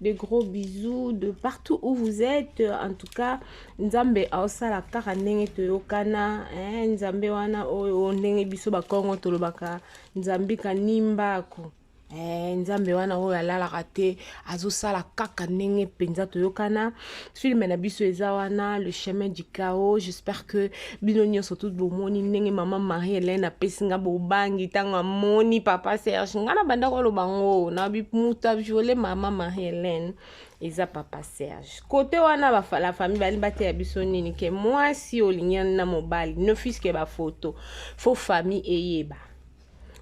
de gros bisous de partout où vous êtes en tout cas nzambe aosala kaka ndenge toyokana eh, nzambe wana oyo oh, oh, ndenge biso bakongo tolobaka nzambe kanimbako eh, nzambe wana oyo alalaka te azosala kaka ndenge mpenza toyokana film na biso eza wana le chemin du chaos j'espère que bino nyonso tout bomoni ndenge mama marie helene apesi nga bobangi ntango amoni papa serge nga na bandako aloba ngo na moto aviole mama marie helene eza papa serge kote wana la famille bali bateya biso nini ke mwasi olingani na mobali ne fiske bafoto fo famille eyeba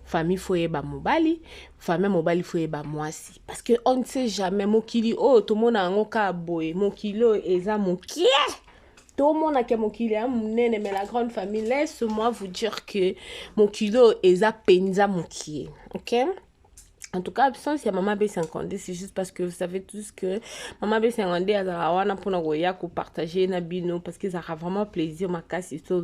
famille faut yeba mobali famille mobali faut yeba mwasi parce que on ne sait jamais mokili oyo tomona yango ka boye mokili oyo eza mokie tomona ke mokili ya monene mais la grande famille laisse moi vous dire que mokili oyo eza mpenza mokie okay En tout cas, absence ya Mama B52, c'est juste parce que vous savez tous que Mama B52 azala wana pona koya ko partager na bino parce que ezalaka vraiment plaisir makasi to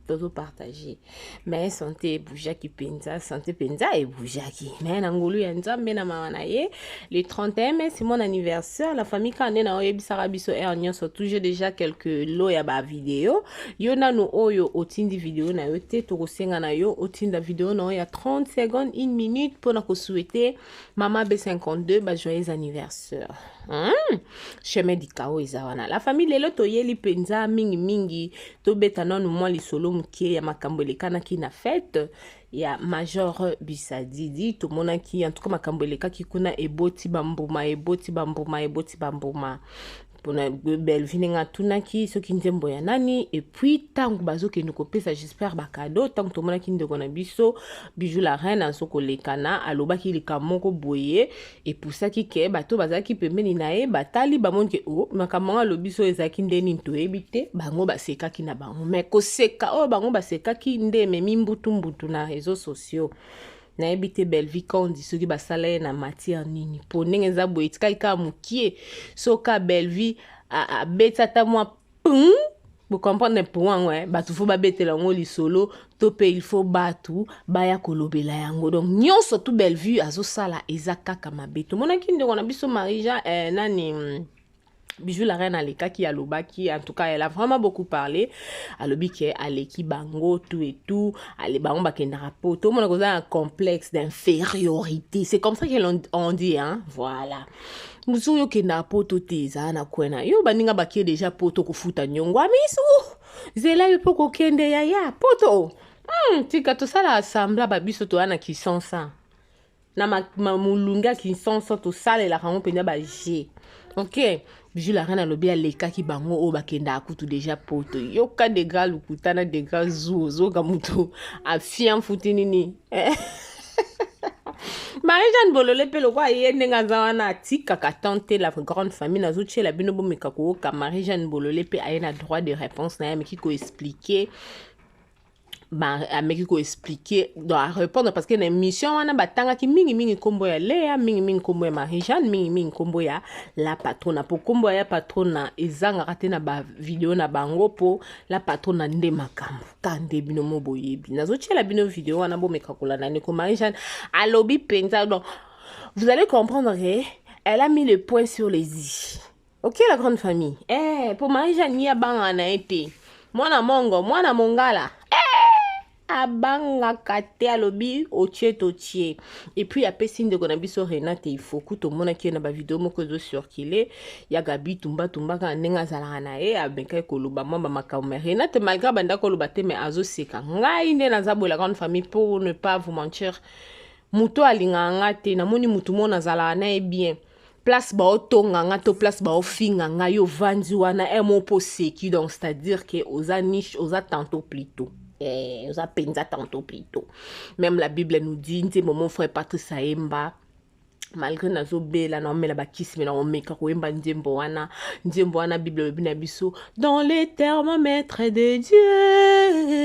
tozo partager. Mais santé eboujaki penza, santé penza eboujaki. Mais na ngolu ya Nzambe na mawa na ye, le 31 mai c'est mon anniversaire, la famille kande na oyebisaka biso heure nyonso toujours déjà quelques lots ya ba vidéos. yo nanu oyo otindi video na yo te tokosenga na yo otinda video na yo ya 30 secondes une minute mpo na kosouete mama b52 bajoyeux anniversaire hmm? chemin du cao eza wana la famille lelo toyeli mpenza mingimingi tobeta nanu mwa lisolo moke ya makambo elekanaki na fete ya major bisadidi tomonaki en tout cas makambo elekaki kuna eboti bambuma eboti bambuma eboti bambuma pona belvi ndenge atunaki soki nzembo ya nani epuis ntango bazokende kopesa jesper bacado ntango tomonaki ndeko na biso bijou la reine azo kolekana alobaki likambo moko boye epusaki ke bato bazalaki pembeni na ye batali bamoni ke o oh, makambo yango alobi so ezalaki nde nini toyebi te bango basekaki na bango me koseka oyo bango basekaki nde ememi mbutumbutu na reseau sociaux nayebi te Bellevue Kandy soki basala ye na matière nini mpo ndenge eza boye etikaki kaka mokie so ka Bellevue abeti ata mwa pum bocomprendre mpo yango eh? bato fo babetela yango lisolo to mpe il faut bato baya kolobela yango donc nyonso tu Bellevue azosala eza kaka mabe tomonaki ndeko na biso Marie Jean eh, nani Bijou la reine alekaki alobaki en tout cas elle a vraiment beaucoup parlé alobi ke aleki bango tout et tout ale bango bakendaka po tomona koza un complexe d'infériorité c'est comme ça qu'elle on dit hein voilà mosusu okendaka poto te ezala na kwe na yo baninga bakie deja poto kofuta nyongo amisu zela yo mpe kokende yaya poto hmm, tika tosala asambla babiso toya na kisansa na ma, ma molunge ya kinsansa tosalelaka yango mpenza baje ok bijou la reine alobi alekaki bango oyo bakendaka kutu deja poto yoka degra lokuta na degra zu ozoka moto afia mfuti nini marie jeanne bolole mpe lokola ye ndenge aza wana atikaka tan te la grande famille nazotyela bino bomeka kooka marie jeanne bolole mpe aye na droit de réponse na ye ameki koexplike ba ameki ko expliquer donc a répondre parce que na émission wana batangaki mingi mingi nkombo ya Lea mingi mingi nkombo ya Marie Jeanne mingi mingi nkombo ya la patrona po nkombo ya patrona ezangaka te na ba video na bango po la patrona nde makambo ka nde bino mo boyebi nazotyela bino video wana bomeka kolanda ndeko Marie Jeanne alobi mpenza donc vous allez comprendre que elle a mis le point sur les i Ok la grande famille. Eh, po Marie Jeanne ni abanga na ye te. Mwana mongo, mwana mongala. Eh! abangaka te alobi otie totie epuis apesi ndeko na biso renate ifoku tomonaki ye na bavideo moko ezo circule ya gabi tumbatumba kaka ndenge azalaka na ye amekaki koloba mwa bamakambo ma renate malgre abanda koloba te mai azoseka ngai nde naza boye la grande famille pour ne pas vous mentir moto alingaka nga te namoni motu mona azalaka na ye bien place baotonga nga to place baofinga nga yo vandi wana e mo mpo oseki donc c'est-à-dire que oza niche oza tanto plito eh, oza mpenza tanto plito même la bible nous dit nzembo mon frère patrice ayemba malgré nazobela naomela bakisi me nakomeka koyemba nzembo wana nzembo wana bible olobi na biso dans les thermomètres de dieu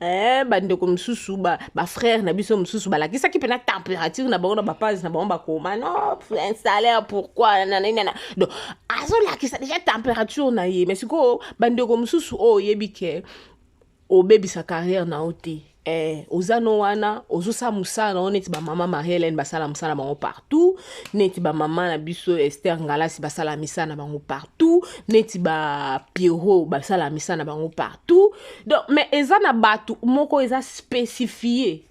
eh, bandeko mosusu bafrère ba na biso mosusu balakisaki mpena température na bango na bapage na bango bakoma no un salaire pourquoi nananana donc azolakisa déjà température na ye mais sikoyo bandeko mosusu oyo oyebi ke obebisa carrière na yo te eh, oza no wana ozosala mosala na yo neti bamama marie helene basala mosala bango partout neti bamama na biso ester ngalasi basala misala na bango partout neti bapierrot basala misala na bango partout donc mais eza na bato moko eza spécifie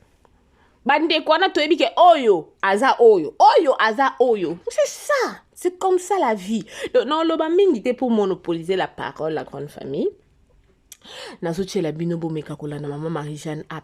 bandeko wana toyebi ke oyo aza oyo oyo aza oyo c'est ça c'est comme ça la vie donc naoloba mingi te pour monopoliser la parole la grande famille nazotyela bino bomeka kolanda mama marie jeanne app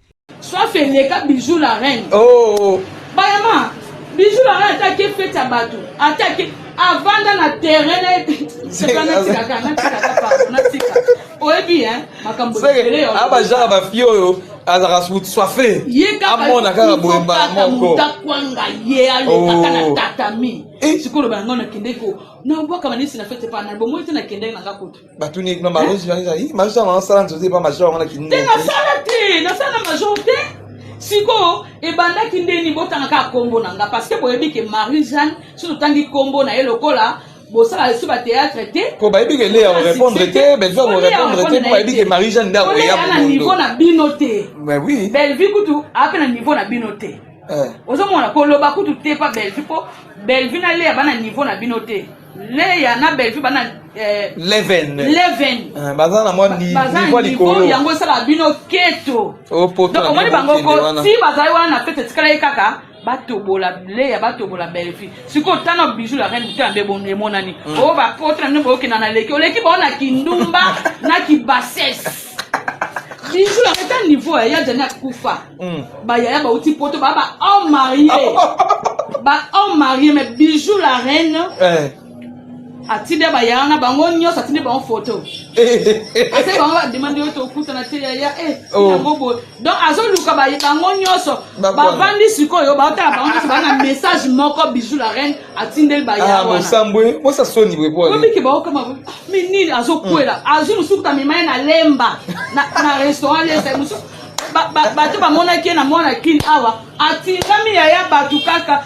Soif eleka bijou la reine. Oh. Bayama bijou la reine ataki fete ya bato ataki avanda na terrain na natika natika oyebi hein makambo ebele yo. Aba jara ba fille oyo azalaka suti soife amona kaka boye mbala moko takwanga ye alekaka na oh. tatami eh. sikoyo loba yango nakendeki nabwaka banisi na fete pana bomoi te nakendeki nanga kutu batuni kuna marozi yango ezali marozi yango asala nzozi epa major yango na kinini te nasala te nasala major te sikoyo ebandaki ndeni botanga kaka nkombo na nga parce que boyebi ke marie jeanne so totangi nkombo na ye lokola bosala lisusu bateatre te po bayebi ke leya orépondre te bellevue orépondre te po bayebi ke marie jeanne nde akoya na niveau na bino te bellevue kutu ape na niveau na bino te eh. ozomona koloba kutu te pa bellevue po bellevue na leya bana niveau na bino te Leya na Bellevue bana eh, Leven. Leven. Ah, baza na mwa ni- Baza niveau ya niveau likolo. yango esala bino keto. Oh, poto Donc na omoni bino bango bokende ko wana. si bazali wana na fete etikala ye kaka batobola Leya batobola Bellevue. Sikoyo tana bijou la reine mutana mbe bon emonani. Oh ba potre na bino bokenda na leki. Oleki bango na kindumba na kibasese. bijou yango eza niveau ya ya jani akufa hmm. bayaya bauti poto baa ba homme marie ba homme marie mais bijou la reine eh. atinde bayaya na bango nyonso atinde bango foto ase bango bademande oyo tokutana te yaya e eh, oh. yango boye donc azoluka bango nyonso bavandi sikoyo baotala bango nyonso baa na message moko bijou la reine atindeli bayawanasambwe ah, bosa soni bwebwabiki baokama mi nini azokwela hmm. azwi mosuku tamema ye na lemba na restaurant lesa mosuku bato bamonaki ye na mwana kini awa atingami yaya bato kaka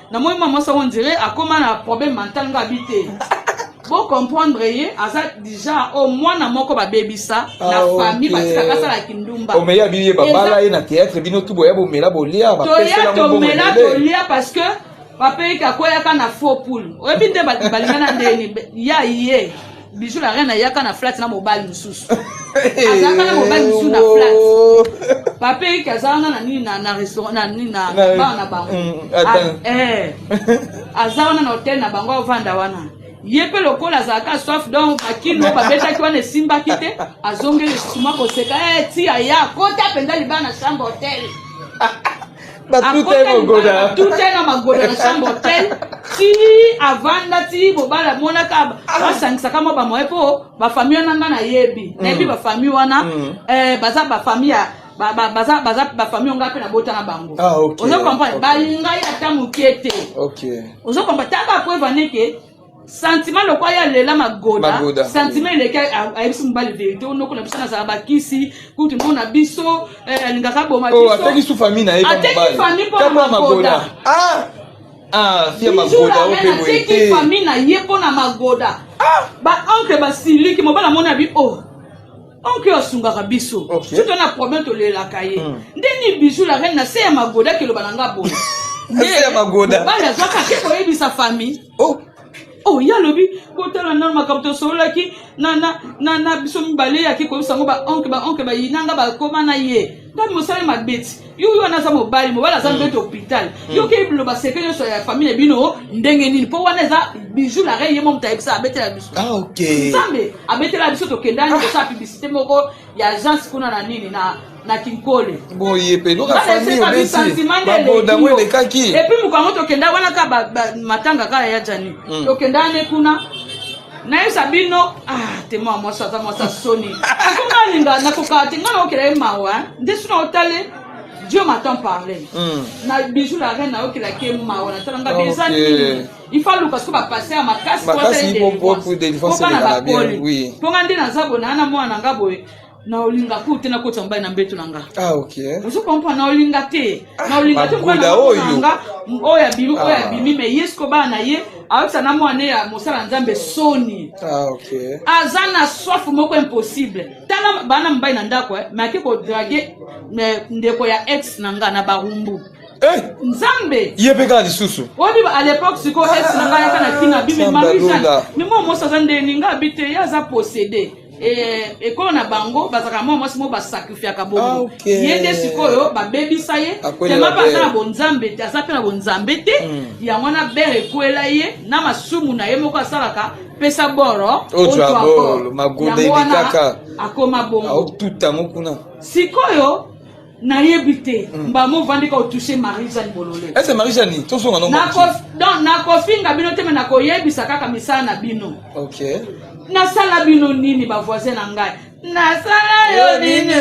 na moi mwa mwasi yango ndire akoma na problème mental nga abi te bocomprendre ye aza déjà o mwana moko babebisa na ah, famille batikaka asala kindumba omeya biye babala ye na théâtre bino tu boya bomela bolia toya tomela tolia parce que bapeyika akweyaka na faux poule oyebi nde balingana ndeni ya ye Bijou la reine ayaka na flat na mobali mosusu. Azalaka na mobali mosusu na flat. Papa Eric azalaka na nini na na restaurant na nini na bar na bango. Mm, ah, eh. Azalaka na hotel na bango avanda wana. ye mpe lokola azalaka soif donc bakino babetaki wana esimbaki te azongeli suma koseka eh, ti aya kota mpenza libala na chambre hotel batuta na magoda na chambre hotel ti avanda ti bobala amonaka ah. basangisaka mwa bamoye mpo bafamille wana nga nayebi mm. nayebi bafamille wana mm. eh, baza bafamille ya baza baza bafamille onga mpe nabota na bango ah, ozo comprendre balingai ata moke te ozo comprendre ta bapreuve aneke sentiment lokola ye alela magoda sentiment eleki ayebisi mobali verité onoko na biso nazala bakisi kutu nko na biso eh, alingaka aboma oh, bisoateki famille na ye ateki famille mpo na magoda ah! Ah, ateki famille na ye mpo na magoda ah! baoncle basiliki mobali amoni abi o oh, oncle oyo asungaka biso soto na problème tolelaka ye hmm. nde ni bijou la reine na se ya magoda keloba na nga boye nde magoda bana azwaka te koyebisa famille oh oh ye alobi botala nano makambo tosololaki na, na, na, na biso mibale yaki koyebisa yango baonke baonke bayinanga bakoma na ye ngai mosali mabeti yo yo wana aza mobali mobali aza mbeti mm. hôpital mm. yo okeyi biloba seke nyonso ya famille bino ndenge nini mpo wana eza bijou la rei ye mo moto ayebisa abetela biso ah, nzambe abetela biso tokendani ah. kosala publicité moko ya agence kuna na nini na na kinkole boye mpe loka famille obeti babodango elekaki epuis moko yango tokenda wana ka matanga kaka ya jani hmm. tokenda ane kuna nayebisa bino ah, tema mwasi aza mwasi ya soni akoma alinga nakokaa te ngai naokela ye mawa nde suna otale dieu m'attend parler hmm. na bijou la reine nayokelaki ye mawa natala nga beza nini ifa aluka soki bapase ya makasi mpo bana bakoli mpo nga nde naza bona na mwana na nga boye na olinga ku te nakoti ya mobali na mbeto na nga ah, ozo comprendre na olinga te ah, na olinga te mobali na nga oyo abimi oyo ah. abimi me yesu ko bana na ye ayokisa na mwana ya mosala ya nzambe soni aza na soif moko impossible tala bana mobali na ndako eh, me ake kodrage eh, ndeko ya ex na nga na barumbu eh! nzambe ye mpe kaka lisusu oyebi a l'époque sikoyo ex na nga yaka na tina bimemamisa mimo mosi aza ndeni nga abi te ye aza posede Eh, ekolo na bango bazalaka mwa mwasi moko basakrifiaka bongo ah, okay. ye nde sikoyo babebisa ye tema mpe aza na bonzambe te aza mpe na bonzambe te mm. yango wana bere ekwela ye na masumu na ye moko asalaka pesa boro yango wana akoma bongo ah, sikoyo nayebi te hmm. mbamo ovandi ka otouche marie jeanne bolole ese marie jeanne tozonga donc nakofinga bino te me nakoyebisa kaka misala na bino ok nasala bino nini bavoisin na ngai nasala yo nini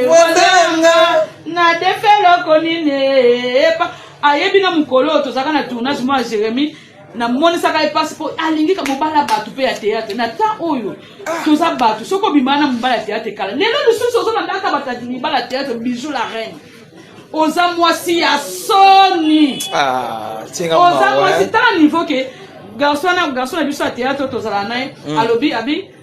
wazanga na defe eloko nini epa ayebi na mokolo oyo tozalaka na tournage mwa jérémie namonisaka ye mpasi mpo alingi ka mobali ya bato mpe ya teyatre na temps oyo toza bato soki obimana na mobali ya teyatre kala lelo lisusu ozolanda ata batati mibali ya teyatre bijou la reine oza mwasi ya soni ah, oza mwasi tala niveau ke garçon na garçon na biso ya teyatre tozala naye mm. alobi abi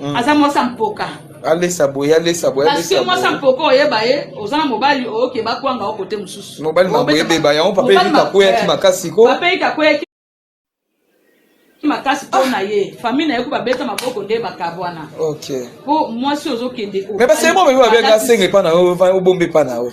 mm. aza mwasi ya mpoka alesa boye alesa boye parce que mwasi ya mpoka oyeba ye oza na mobali oyoke bakwanga o kote mosusu mobali mabo ebeba yango papa eyiki akweyaki makasi ko papa eyiki akweyaki makasi mpo na ye famille na ye ko babeta maboko nde bakabwana mpo mwasi ozokende me baseli mwa babe babenga asenga epa na yo obomba epa na yo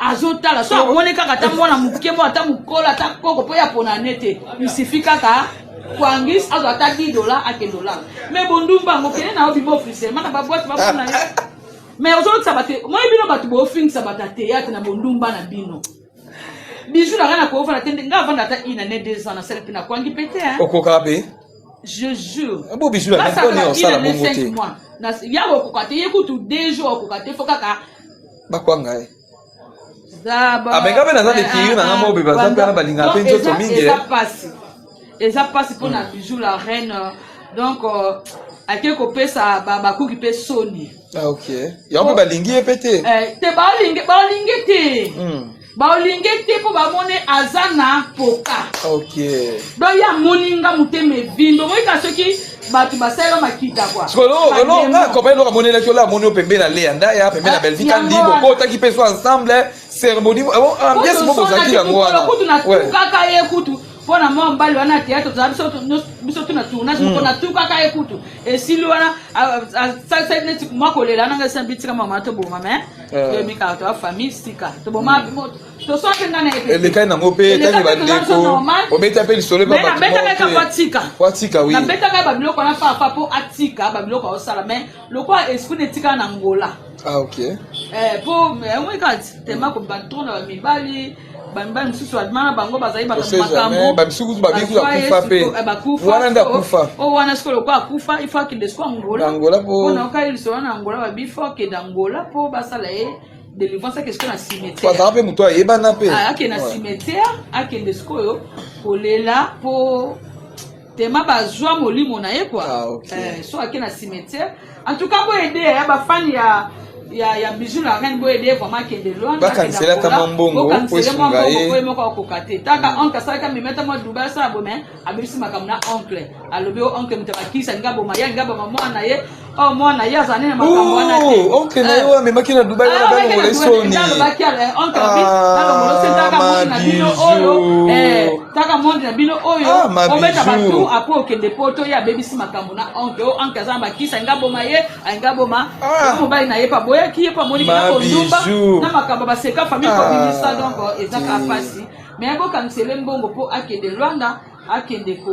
azotala so amoni kaka ata mwana moke mo ata mokolo ata koko mpo ya pona ne te isifi kaka kwangis azwa ata 10 dola akende olala me bondumba yango kende na yo bima officiellement na babwate bapona ye me ozolotisa bato moi bino bato bofingisa bato ya teyatre na bondumba na bino bijou na ngai nakoofana te nde ngai avanda ata une année deux ans nasali mpe nakwangi mpe te okokaka mpe je jure ah, bo bijou na ngai mpo ne osala bongo te ya kokoka te ye kutu deux jours okoka te fo kaka bakwanga ye abenga mpe naza dekiri nanga mobe baza mpe na balinga mpe nzoto mingi eza mpasi mpo na bijou la reine donc euh, ake kopesa bakuki mpe soni ah, yango mpe balingi ye mpe te eh, te balingi te hmm. baolinge te mpo bamone aza na poka okay. don ye amoni nga motema evindo omoyika soki bato basalela makita kwakompani eloko amonelaki ola amoni yo pembe na leya ndaya pembe na ah, belvi kandi bokotaki mpe so ensemble cérémonie ambiance moko bozalaki yango wana kutu natukaka ye kutu mpo na mwa mobali wana teatre tozala biso tuna tournage moko hmm. natukaka ye kutu esili wana asalisaki neti mwa kolela nanga esina bitika mama toboma me toyebikaka toya famille sika toboma toswaki nga na elekani nango mpe etangi bandeko obeta mpe lisolo ebabatikaabetaka babiloko wana papa mpo atika babiloko aosala mai lokola esprit na etikala na ngola ah, ok mpo eh, eh, omoi kati tema kobanda tona bamibali bamibali mosusu alima na bango bazali bato makambo bamisusu kutu babiku akufa mpe eh, wana nde akufa o oh, wana sikoyo lokola akufa ifo akende siko angola angola mpo na okali lisolo na angola babi fo akende angola mpo basala ye délivrance akende sikoyo na cimetière azala mpe moto ayebana mpe ah, akende na cimetière akende sikoyo kolela mpo tema bazwa molimo na ye kua ah, okay. eh, so ake na cimetière en tout cas boyede ya bafani ya ya ya bijou la reine boye de vraiment kende loin bakanisela ta mambongo po esunga ye boye moko akoka te taka mm. oncle asalaka mimeta mwa duba asala bome abebisi makambo na oncle alobi o oncle moto abakisa linga boma ya linga boma mwana ye Oh mwana ye azali na makambo wana te. Oh, oncle na ye oyo amemaki na Dubai wana bana ngolo esoni. Alobaki ala oncle bi nalongolo se taka monde na bino oyo eh taka monde na bino oyo obeta batu apo okende poto ye abebisi makambo na oncle o oncle aza na bakisa nga boma ye nga boma mobali na ye pa boyaki ye pa moni kina kondumba na makambo baseka famille kobimisa donc ezaka mpasi mais akokanisele mbongo mpo akende Rwanda akende ko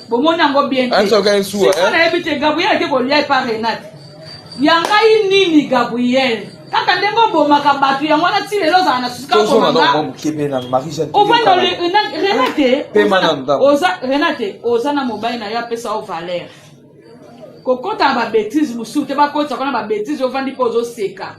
bomoni yango bien te sikoyo nayebi te gabriel ake kolia epa renate ya ngai nini gabriel kaka ndenge obomaka bato yango wana ti lelo ozala na susirenate oza na mobali na yo apesa yo valeur kokota na babetise mosusu te bakotisa kuna babetise ovandi mpe ozoseka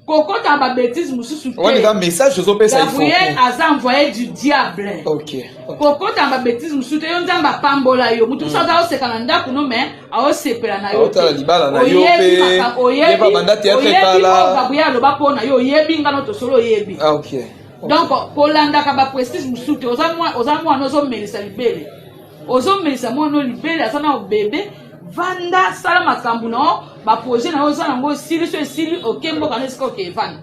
kokota ba bêtise mususu te wani ka message ozo pesa Gabriel aza envoyé du diable OK kokota ba bêtise mususu te yo nzambe apambola yo mutu mususu aza oseka na ndako no mais aosepela na yo otala libala na yo pe oyeba banda théâtre kala Gabriel aloba po na yo oyebi ngano tosolo oyebi ah, OK donc kolandaka ba prestige mususu te oza mwana ozomelisa libele ozomelisa mwana oyo libele aza nao bebe vanda sala makambo na yo baprojet na yo oza nango esili so esili oke mboka na esika oke vanda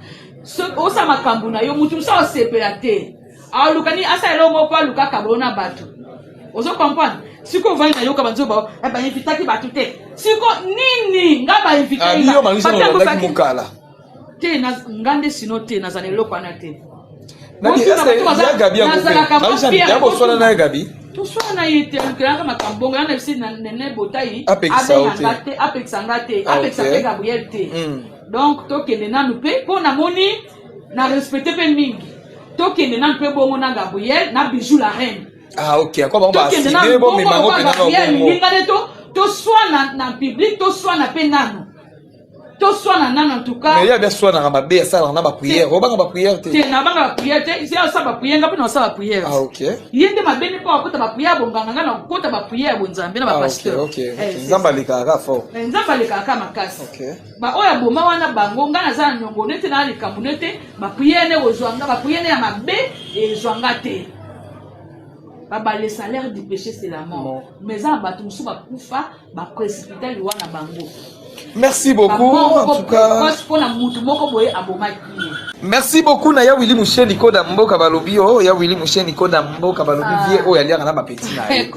osala makambo na yo motu mosusu asepela te alukani asala eloko moko mpo alukaka bao na bato ozo comprendre sikoyo ovandi na yoka banzo bao eh, bainvitaki bato te siko nini nga bainvite ah, te nga nde sino te naza na eloko wana te yakoswana na ye gabi toswana na ye te alukelaka makambo bongo yana bisi nene botai abenganga te apekisa nga te ah, apekisa mpe gabriel te hmm. donc tokende nanu mpe mpo namoni na respecte mpe mingi tokende nanu mpe bongo na gabriel na bijou la reine ah ok ako bango baside bomema yango mpe nano bongo toswana na public toswana mpe nano toswana nano entoucasya bia swanaka mabe asalaka na bapriere obanga bapriere te nabanga bapriere te asala bapriere nga mpe na osala bapriere ah, ye nde mabe nde mpo akota bapriere bonganga nga na okota bapriere ya bonzambe na bapasteur ah, eh, nzambe alekaka ka fort eh, nzambe alekaka ka makasi baoyo aboma wana bango nga naza na niongo nete na likambo nete bapriere nde kozwa nga bapriere ya mabe ezwa nga te babale salaire du péché c'est la mort mais eza na bato mosusu bakufa ba précipiter loi na bango merci beaucoup en tout cas pona mutu moko boye abomaki merci beaucoup na ya wili musheni koda mboka balobi o oh, ya wili musheni koda mboka balobi ah. vie oyo aliaka na bapeti na ye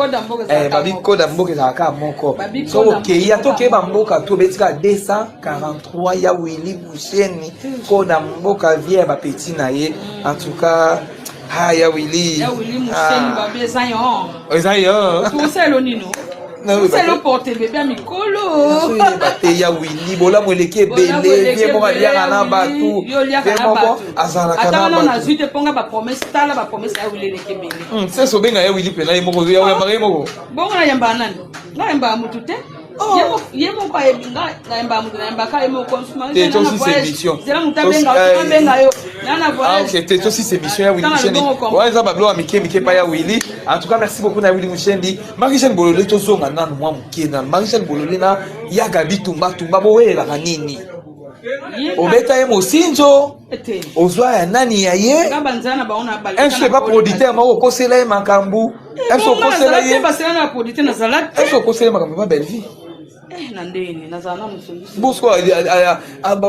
eh, babi koda mboka ezalaka kaka moko so okei ata okeyeba mboka to obeti kaka 243 ya wili musheni koda mboka vie ya bapeti na ye en tout cas Ah, ya Willy. Ya Willy museni ah. babe eza yo. Eza yo. Kuselo nino. Kuselo porte bebe mikolo. Te ya Willy bolamu eleki ebele vie moko aliaka na batu. Yo liaka na batu. Azalaka na batu. Ata wana nazwi te ponga ba promesse tala ba promesse ya Willy eleki ebele. Hmm, seso benga ya Willy pena ye moko ya yamba ye moko. Bongo na yamba nani? Na yamba mutu te. eza bablo ya mike mike epai ya willi en tout cas merci beaucoup na willi mushendi marie jeanne bolole tozonga nanu mwa moke na marie jeanne bolole na ya gabi tumba tumba boyelaka nini obeta ye mosinzo ozwa ya nani ya ye mso epa producteur moko okosela ye makambo mso okosela ye mso okosela ye makambo epa bellevie bosko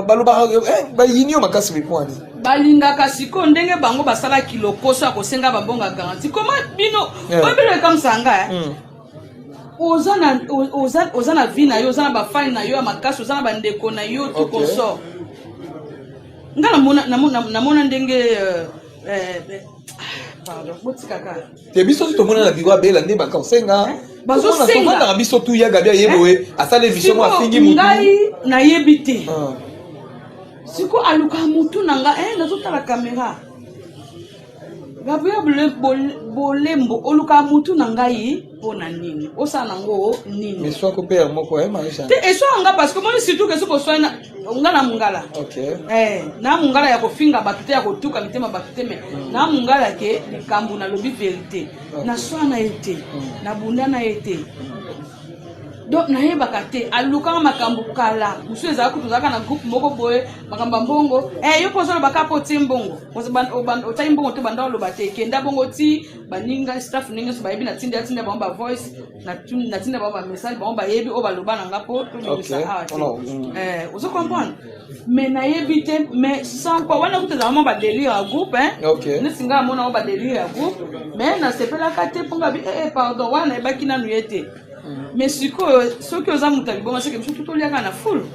balobaka bayini yo makasi mikwani balingaka sikoyo ndenge bango basalaki lokoso ya kosenga bambonga garanti koma bino eh. oyo bino ekamwisaka nga eh? hmm. oza na oza oza na vie na yo oza na ba fan na yo ya makasi oza na ba ndeko na yo tout okay. consort nga namona namona namona ndenge euh, euh, euh pardon botikaka te biso tomona na biro abela nde baka osenga eh, bazosengaka biso tu ya gabi aye boye eh, asala emission mwa afingi motu ngai nayebi te ah. siko aluka motu na nga eh, nazotala kamera gabriel bolembo oluka mutu na ngai mpo na nini osala nango nini eswako mpe ya moko eh, te eswaka nga parce que moni surtout ke soki oswai nga na mongala eh, na mongala ya kofinga bato te ya kotuka mitema bato te me mm. na mongala ke likambo nalobi verité naswa na ye te mm. nabunda na ye te mm. donc nayebaka te alukaka makambo kala mosusu ezala kutu ozalaka na groupe moko boye makambo ya mbongo eh, yo mpo ozoloba kaka mpo otie mbongo otali mbongo te banda oloba te kenda bongo ti baninga staff ndenge nyonso bayebi natinda atinda bango bavoice natinda bango bamessage bango bayebi oyo baloba na nga mpo tobimisa awa te ozo comprendre me nayebi te me sans quoi wana kutu ezalama ba delire ya groupe neti ngai amona ngo ba delire ya groupe me nasepelaka te mpo ngabi ee eh, eh, pardon wana nayebaki nanu ye te mm. me sikoyo soki oza moto ya libonga seke biso tutoliaka na fulu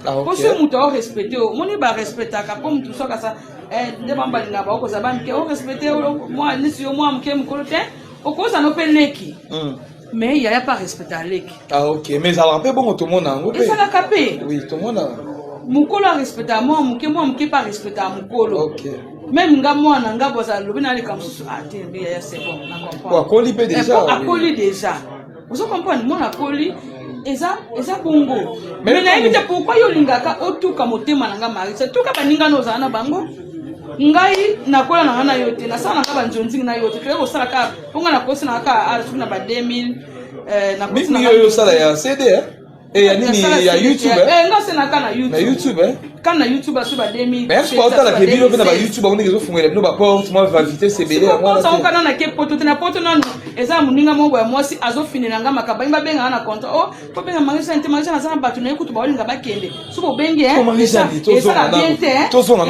ah, mpo soki moto aorespecte yo omoni barespectaka mpo moto soki asa eh, nde bambalinga baokozala bamike orespecte mwa nisi yo mwa moke mokolo te okozala no mpe leki mm. mais yaya pa respecta leki ah ok mais ezalaka mpe bongo tomona yango mpe ezalaka mpe oui tomona mokolo arespecta mwa moke mwa moke mpe arespecta mokolo okay. meme nga mwana nga bozala lobi naleka mosusu ate ah, mbi yaya sebon na comprendre akoli mpe deja eh, akoli deja ozo comprendre mwana akoli eza eza bongo me nayebi te pourkui yo olingaka otuka motema na nga marisa tuka baninga na ozala na bango ngai nakola na nga na yo te nasala na nga banzonzingi na yo te toyei kosala kaka mpo nga nakosi na kaka ah, soki na ba 2000 eh, nakosi na yo osala ya cd eh? Eh, ya nini ya youtube eh? eh, nga sena ka na youtube na youtube eh? ka na youtube aso ba 2000 mais soki otalaka ebino mpe na ba youtube amoni ezofungela bino baporte mwa vavite sebele yangosangoka nana ke poto te na poto nanu eza moninga moko ya mwasi azofinela nga makaba ye babengaka na contra o oh, tobenga marie jeanne te marie jeanne aza na bato na ye kutu baolinga bakende soki obengi esala bien te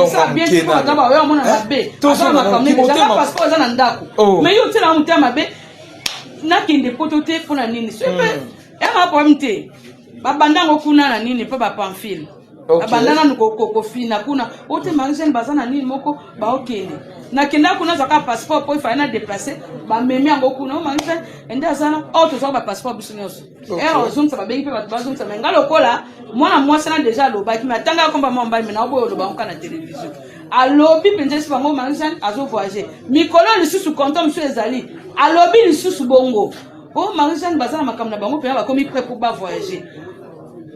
esala bien te aza baoyo amona mabe aza makambo ezanga passeport aza na ndako mais yo otielanga motema mabe nakende poto te mpo na nini soki mpe ema problème te babanda yango kuna na nini mpo bapamphile Okay. abanda nanu ko- ko- kofina kuna o te marie jeanne baza na nini moko baokende nakendaka kuna azwaka passeport mpo efali na deplace bamemi yango kuna o marie jeanne ende aza na or tozwaka bapasseport biso nyonso Okay. ere ozongisa babengi mpe bato bazongisa me nga lokola mwana mwasi na deja alobaki me atanga yakomba mwa mbali me naoboyo oloba yango kaka na televizio alobi mpenza esi bango marie jeanne azovoyage mikolo lisusu konto mosusu ezali alobi lisusu bongo o marie jeanne baza na makambo na bango mpenza bakomi pre mpo bavoyage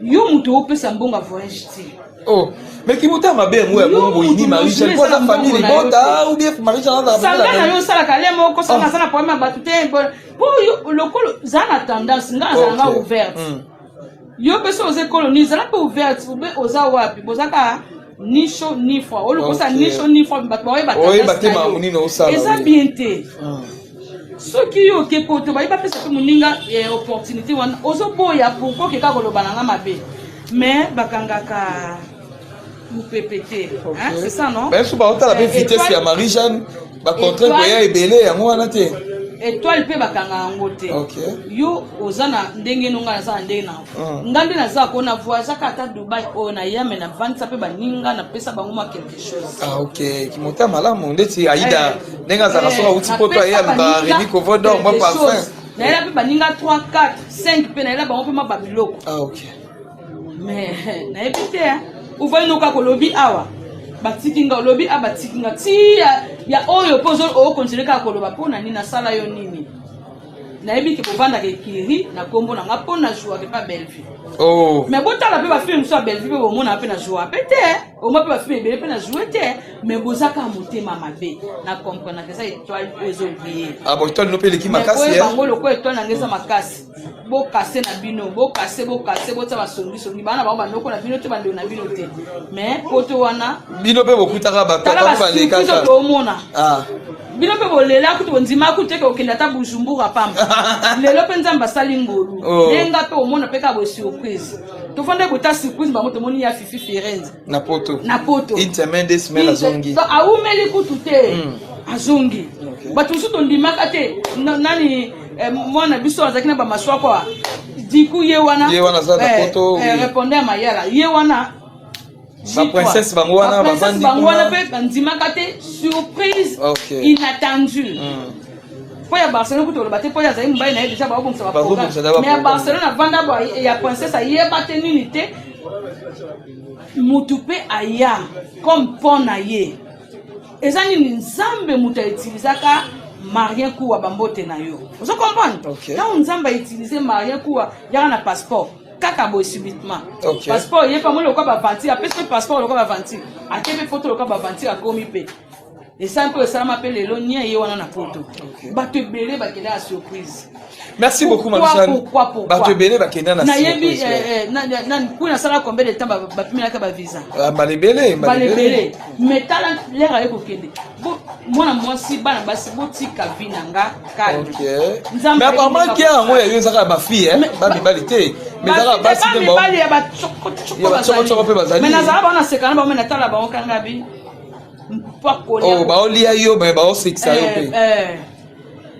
yo moto opesa mbongo ya voyage te oh mais kimotema mabe yango ya bongo boyini marija po aza famille libota ou bien marija azasanga na yo osalaka le moko sanga aza na problème ya bato te po yo lokolo zala na tendance nga azalanga ouverte yo mpe so oza ekoloni zala mpe ouverte oza wapi bozaka nisho nifwa olokosa nisho nifwa bato baoyeba te makambo nini osala eza bien te ah. soki yo oke poto bayebi bapesa mpe moninga eh, opportunité wana ozoboya pourkoi okeka koloba na nga mabe mais bakangaka mopepe te c'est ça non biso baotala mpe eh, vitesse ya marie jeanne bacontrainte koya ebele yango wana te étoile mpe bakanga yango te yo oza na ndenge nonga naza na ndenge na Ah. nga nde naza ko na voyageaka ata dubai oyo na ya me navandisa mpe baninga napesa bango mwa quelque chose ah, ok kimotema malamu ndeti aida eh. ndenge azalaka eh. soki auti poto aye aluka remi covodor mwa parfum nayela mpe baninga 3 4 5 mpe nayela bango mpe mwa babiloko ah, mais nayebi te uvai noka kolobi awa batiki nga olobi a batiki nga ti ya oyo mpo okontinue kaka koloba mpo na nini nasala yo nini nayebi ke bovandaka ekiri na nkombo na nga mpo na jouake mpe bellevue oh. mais botala mpe bafilme mosusu ya bellevue mpe bomona mpe na joua mpe te omwa mpe bafilme ebele mpe na joue te mais bozaka motema mabe na comprenaka eza etoile oyo ezobrie ah, etoile no mpe eleki makasi eh? bango lokola etoile nanga eza makasi bokase na bino bokase bokase botya basongisongi bana bango bandoko na bino te bandeko na bino te mais poto wana bino mpe bokutaka bato balekaka toomona ah. bino mpe bolela kutu bondima kutu eke okende ata bujumbura pamba lelo mpe nzambe asali ngolu oh. nde nga mpe omona mpe kaka boye surprise tofanda kota surprise bango tomoni ya fifi firenze na poto na poto une semaine deux semaines azongi awumeli kutu te hmm. azongi bato mosusu tondimaka te nani eh, mwana biso azalaki na bamaswako diku ye wana ye wana aza na eh, poto eh, répondre ya mayala ye wana ba princesse bango wana bavandi bango wana mpe bandimaka te surprise okay. inattendue mm. mpo ya barcelone kutu oloba te mpo azali mobali na ye deja baobongisa baprogramme mais ya barcelone avanda ya princesse ayeba te nini te motu mpe aya comme mpo na ye eza nini nzambe moto autilisaka marien kuwa bambote na yo ozo comprendre ntango okay. nzambe autilize marien kuwa yaka na passeport kaka boye subitement okay. passeport ye pamoni lokola baventure apesi mpe passeport lokola baventure ake mpe poto lokola baventure akomi mpe esali mpe esalama mpe lelo nia ye wana na poto okay. bato ebele bakenda ya surprise merci beaucoup bato ebele bakenda nayebi eh, eh, nani kui nasala combien de temps bapimelaka bavisa ah, mbala ebele mbala ebele mais tala lere aye kokende mwana mwasi bana basi botika vi na nga kalme apparemment kia yango yayo ezaka ya bafille eh? bamibali te mibali ya bacokocoko mpe bazali nazala bango naseka na bango me natala bango kanga bi oh, baolia yo me baosekisa yo mpe eh, eh.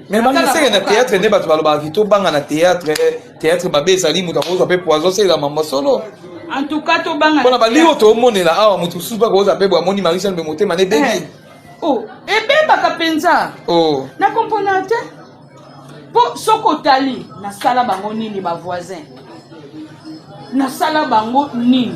me bangeseke na théâtre nde bato balobaka kito banga na théâtre Théâtre mabe ezali moto akozwa mpe poison asalela mambo solo. En tout cas tobanga. Pona bali oyo tomonela awa moto mosusu mpe akozwa mpe boamoni Marie Jeanne mpe motema na ebebi. Eh. Oh, ebebaka mpenza. Oh. Na comprendre te. Mpo soki otali nasala bango nini ba voisin. Nasala bango nini?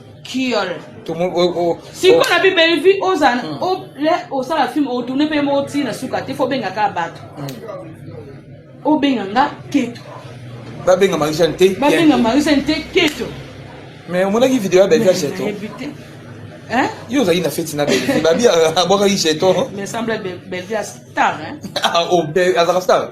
kiol siko na bi bellevue oza osala film otourne mpe moko ti na suka te fo obenga kaka bato hmm. obenga nga keto babenga marisane te babenga marisane te keto mais omonaki video ya bellevue ya cheto Hein? Yo ozali na feti na Bellevue. Babi abwakaki jeton. Mais semble Bellevue a star hein. Ah, oh, azaka star.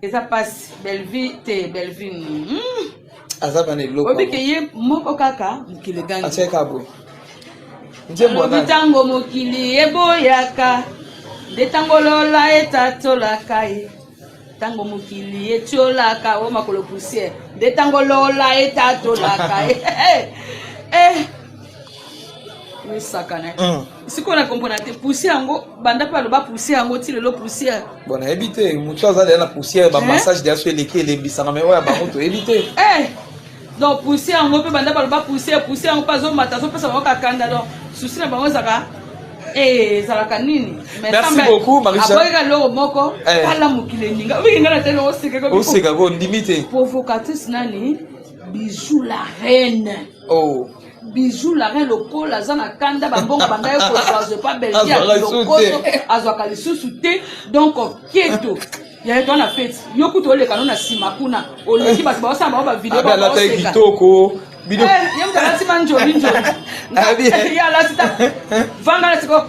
eza pasi bellevue te bellevue hmm. aza bana eloko obike ye moko kaka mokili egangi asali kaka boye nzembobi ntango mokili eboyaka nde ntango lola etatolaka ye ntango mokili etiolaka o makolo poussière nde ntango lola etatolaka ye eh, eh. misakana hmm. sikoyo na comprendre te poussière yango banda mpe aloba poussière yango ti lelo poussière bon nayebi te motu aza deya na poussière bamassage deya so eleki elembisaka mai oyo ya bango toyebi te eh! donc poussière yango mpe banda baloba poussière poussière yango mpe azomata azopesa bango kakanda donc susi na bango ezaka eh, ezalaka nini aboyeka loko moko eh. tala mokili eninga obiki ngai na tele osekaka ondimi te provocatrice nani bijou la reine oh. Bijou la reine lokola aza na kanda bambongo bandaki kozwa azwa epa belgia lokoso azwaka lisusu te donc keto ya eto na feti yo kutu oleka no na nsima kuna oleki bato baosala bango bavideo baoseka kitoko bino eh, ye moto alati manjoli njoli ye alati ta vanga na sikoyo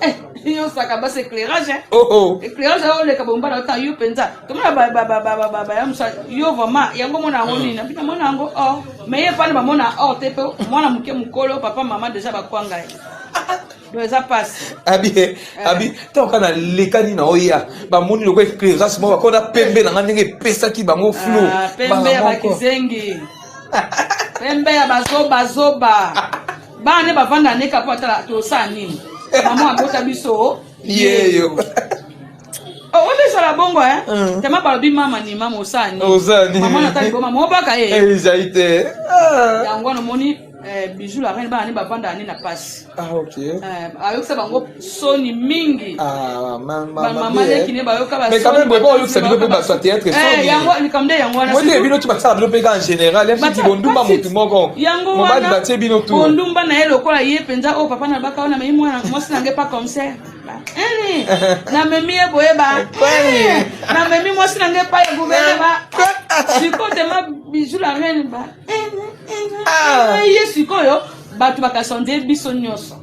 Eh, yo saka basi éclairage hein? oh, oh. éclairage ayo oleka bomba na ota yo mpenza tomona baya mosa yo vraiment yango mona yango nini nabi namona yango or mais ye fani bamona or te mpe mwana moke mokolo papa mama deja bakwanga ye donc eza mpasi abi eh, abi eh. ntango kaka nalekani na oya bamoni lokola éclairage moko bakona pembe na ngai ndenge epesaki bango flou ah, pembe ya bakizengi pembe ya bazobazoba bana nde bavanda neka mpo atala tosala nini mama abota biso yeyo oh, oyo ezala bongo eh? mm. tema balobi mama ni mama osala ninimama nata liboma mobaka ye eh? ezali te ah. yango wana omoni eh, bijou la reine bana nde bavanda ane na mpasi ah, ayokisa bango soni mingi ah, bamamalekine bayokabaoyokisa bino mpe bato ya teatre soniyango nde yango wanaoyete bino ti basala bino mpe kaka général yafiti bondumba motu moko mobali batie bino tu bondumba na ye lokola ye mpenza oyo oh, papa na baka ona mei mwana mwasi na nge pa comcer namemi ye boye ba namemi mwasi na nge pa ya guverne ba sikoyo tema bijou la reine ba ah. ye sikoyo bato bakasonde biso nyonso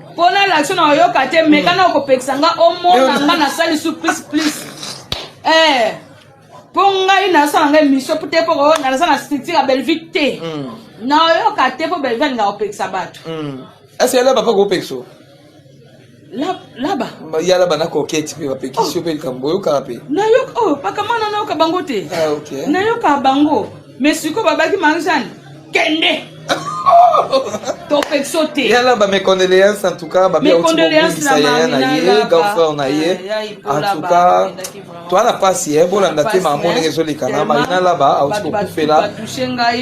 mpo na laction na oyoka te meka na okopekisa nga omona nga nasali su plus plus eh, mpo ngai nasala ngai mission mpo te mpo naza na structure ya bellevue te mm. nayoka te mpo bellevue alinga kopekisa bato mm. ese ya laba mpe kopekisa laba ya laba na koketi mpe bapekisi yo mpe likambo oyokaka mpe nayoka oyo oh, pakamana nayoka bango te ah, nayokaka bango mais sikoyo babaki manzani kende topekso te yala ba mes condoléances en tout cas ba mes condoléances na yaya na ye grand frère na ye en tout cas toi na pasi eh bolanda te ma mona ngezo leka na ma ina laba auti ko kufela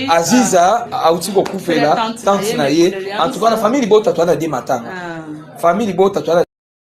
aziza auti ko kufela tante na ye en tout cas na famille libota toi na de matanga famille libota toi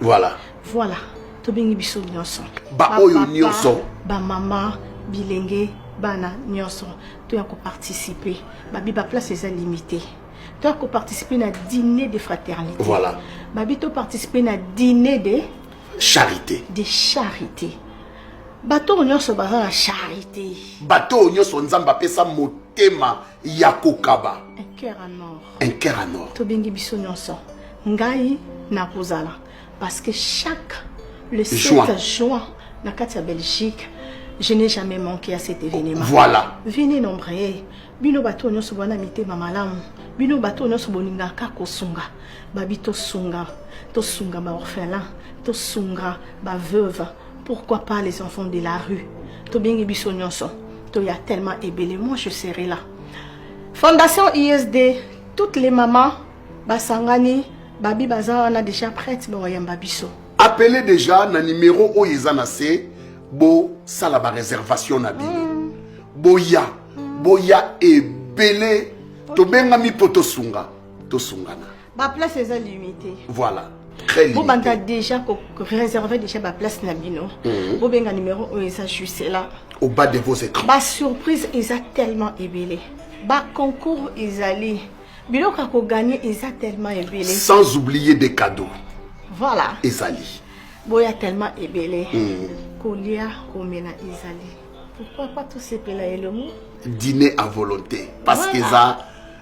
voilà voilà tobengi biso nyonso baoyo nyonso bamama bilenge bana nyonso toya koparticipe babi baplace eza limité toya koparticipe na dîner de fraternité voilà babi toparticipe na dîner de charité de charité bato oyo nyonso baza na charité bato oyo nyonso nzambe apesa motema ya kokaba un cœur en or un cœur en or tobengi biso nyonso ngai nakozala parce que chaque le 7 juin, juin na kati ya belgique je n'ai jamais manqué à cet événement voilà venez nombreux bino bato nyonso bwana mitema malamu bino bato nyonso bolingaka kosunga babi tosunga tosunga baorphelin tosunga baveuve Pourquoi pas les enfants de la rue tobengi biso nyonso toya tellement ebele moi je serai là fondation isd toutes les mamans basangani babi baza wana déjà prête bakoyamba biso appele déjà na numéro oyo eza na se bosala baréservation na bino mm. boya boya ebele tobengami mpo tosunga tosungana Ba place eza limité. Voilà. bobanda déjà réserver déjà baplace na bino mhm. bobenga numéro oyo eza juste là au bas de vos écrans basurprise eza tellement ebele baconcours ezali biloko ya koganye eza tellement ebele sans oublier des cadeaux voilà ezali boya tellement ebele mhm. kolia komela ezali pourquoi pas tosepela elongo dîner à volonté parce voilà. qu'eza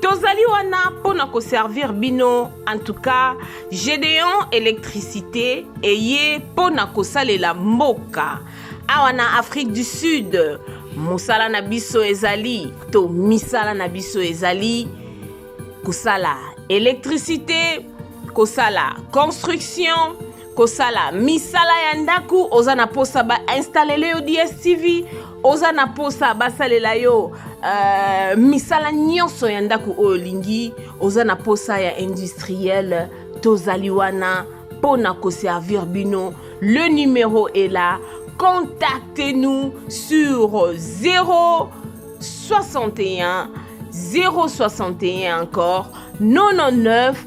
tozali wana mpo na koservir bino en tout cas gedeon électricité eye mpo na kosalela mboka awa na afrique du sud mosala na biso ezali to misala na biso ezali kosala électricité kosala construction kosala misala ya ndako oza na posa ba installele yo dstv oza na posa basalela yo uh, misala nyonso ya ndako oyo olingi oza na posa ya industriel tozali wana mpo na koservir bino le numero est là contactez nous sur 0 61 061 encore 99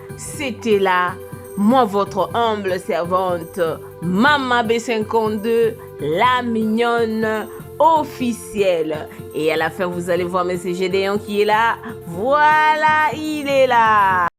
C'était là, moi votre humble servante, Mama B52, la mignonne officielle. Et à la fin, vous allez voir Monsieur Gédéon qui est là. Voilà, il est là.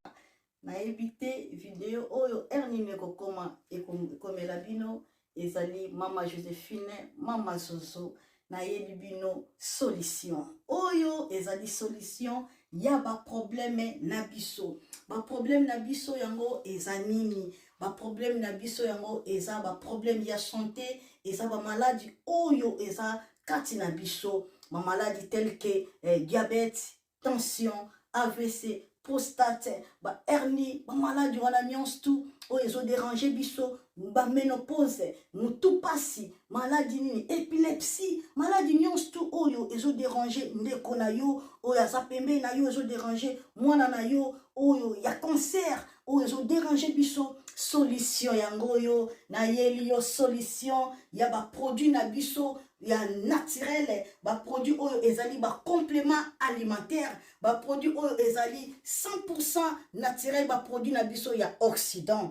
nayebi te video oyo heure nini ekokoma ekomela bino ezali mama josephine mama zozo nayebi bino solution oyo ezali solution ya baprobleme na biso baprobleme na biso yango eza nini baprobleme na biso yango eza baprobleme ya sante eza bamaladi oyo eza kati na biso bamaladi telke eh, diabete tension avc prostate bahernie bamaladi wana nyonso tu oyo ezoderange biso baménopause motu mpasi maladi nini epilepsie maladi nyonso tu oyo ezoderange ndeko na yo oyo aza pembeni na yo ezoderange mwana na yo oyo ya cancer oyo ezo déranger biso solution yango oyo nayeli yo solution ya baproduit na biso ya naturele baproduit oyo ezali bacomplément alimentaire baproduit oyo ezali 100 naturel baproduit na biso ya occident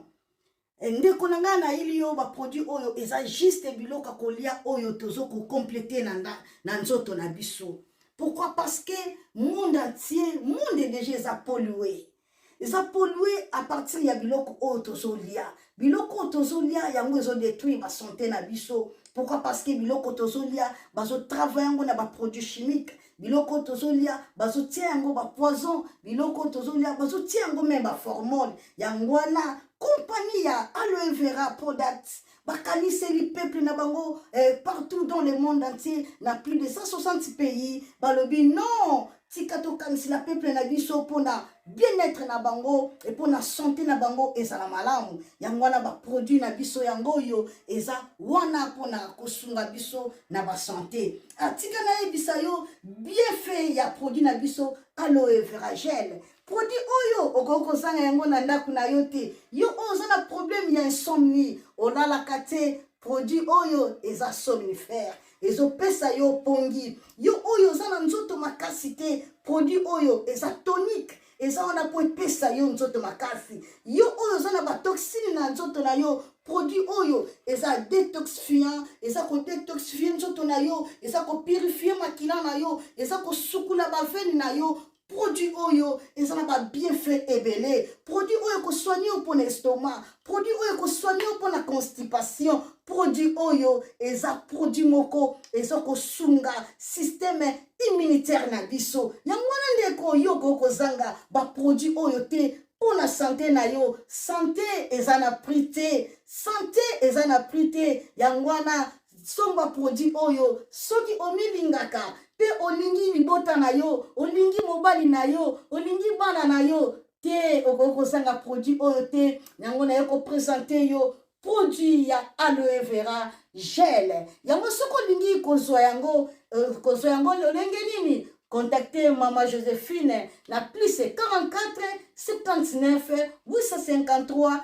eh, ndeko na ngai nayeli yo baproduit oyo eza juste biloko kolia oyo tozo kocomplete na, na, na nzoto na biso pourquoi parce que monde entier monde deja eza polue eza polue à partir ya biloko oyo tozolia biloko oyo tozolia yango ezodétruire basante na biso pourquoi parce que biloko tozolia bazotravaille yango na baproduit chimique biloko tozolia bazotia yango bapoison biloko tozolia bazotia yango meme baformone yango wana kompani ya aloe vera product bakaniseli peuple na bango eh, partout dans le monde entier na plus de 160 pays balobi non tika tokanisela peuple na biso mpona bien-être na bango e mpona sante na bango ezala malamu yango wana baproduit na biso yango oyo eza wana mpona kosunga biso na basante atika ah, nayebisa yo bienfait ya produit na biso aloe veragel produit oyo okoki kozanga yango na ndako na yo te yo oyo oza na problème ya insomnie olalaka te produit oyo eza somnifère ezopesa yo pongi yo oyo oza na nzoto makasi te produit oyo eza tonique eza wana mpo epesa yo nzoto makasi yo oyo oza na batoxine na nzoto na yo produit oyo eza detoxifiant eza kodetoxifie nzoto na yo eza kopurifie makila na yo eza kosukula bavene na yo produit oyo eza na babienfait ebele produit oyo ekosoigne yo mpo na estomac produit oyo ekosoigne yo mpo na constipation produit oyo eza produit moko eza kosunga systeme immunitaire na biso yango wana ndeko yo okoki kozanga baproduit oyo te mpo na sante na yo sante eza na prix te sante eza na prix te yango wana somba produit oyo soki omilingaka mpe olingi libota na yo olingi mobali na yo olingi bana na yo te okoki kozanga produit oyo te yango naye kopresente yo produit ya aloe vera gel yango soki olingi kozwa yango euh, kozwa yango lolenge nini Contactez Maman Joséphine, la plus c'est 44 79 853